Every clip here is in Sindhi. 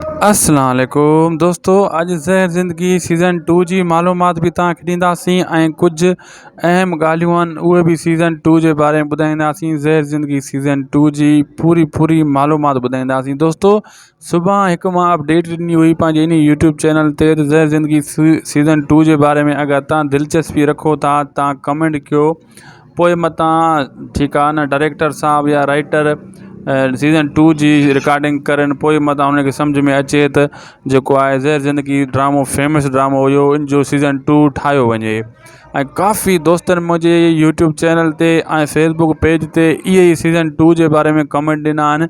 اسلام عليڪم دوستو اڄ زهر زندگي سيزن ٽو جي معلومات به توهان کي ڏينداسين ۽ ڪجهه اهم ڳالهيون آهن اهي به سيزن ٽو جي باري ۾ ٻڌائينداسين زهر زندگي سيزن ٽو جي پوري پوري معلومات ٻڌائينداسين دوستو صبح هڪ ماء اپڊيٽ ڏني هئي پنهنجي ان يوٽيوب چينل تي زهر زندگي سيزن ٽو جي باري ۾ اگر تان دلچسپي رکو ٿا تان ڪمينٽ ڪيو پوء متان ٺيڪ آهي نه ڊائريڪٽر صاحب يا رائيٽر سيزن ٽو جي رڪارڊنگ ڪرن پوء متان ان کي سمجھ ۾ اچي ته جيڪو آهي زهر زندگي ڊرامو فيمس ڊرامو هيو ان جو سيزن ٽو ٺاهيو وڃي ۽ ڪافي دوستن منهنجي يوٽيوب چينل تي ۽ فيسبڪ پيج تي اهي سيزن ٽو جي باري ۾ ڪمينٽ ڏنا آهن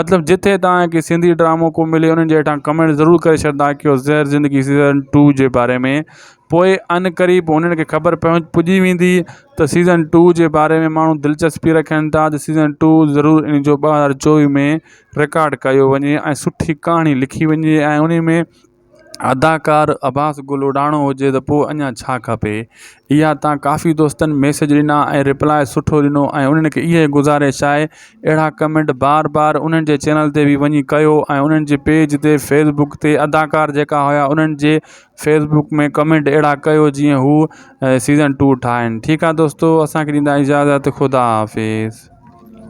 مطلب جتي تان کي سنڌي ڊرامو ڪو ملي انهن جي هيٺان ڪمينٽ ضرور ڪري ڇڏدا ڪيو زهر زندگي سيزن ٽو جي باري ۾ پوء ان قريب انهن کي خبر پهنچ پڄي ويندي ته سيزن ٽو جي باري ۾ ماڻهو دلچسپي رکن ٿا ته سيزن ٽو ضرور ان جو ٻه هزار چوويهه ۾ رڪارڊ ڪيو وڃي ۽ سٺي ڪهاڻي لکي وڃي ۽ انهي ۾ اداڪار عباس گل اڏاڻو هجي ته پوء اڃا ڇا کپي اها تان ڪافي دوستن ميسج ڏنا ۽ رپلاء سٺو ڏنو ۽ انهن کي اهي گذارش آهي اهڙا ڪمينٽ بار بار انهن جي چينل تي به وڃي ڪيو ۽ انهن جي پيج تي فيس بڪ تي اداڪار جيڪا هيا انهن جي فيس بڪ ۾ ڪمينٽ اهڙا ڪيو جيئن هو سيزن ٽو ٺاهن ٺيڪ آهي دوستو اسان کي ڏيندا اجازت خدا حافظ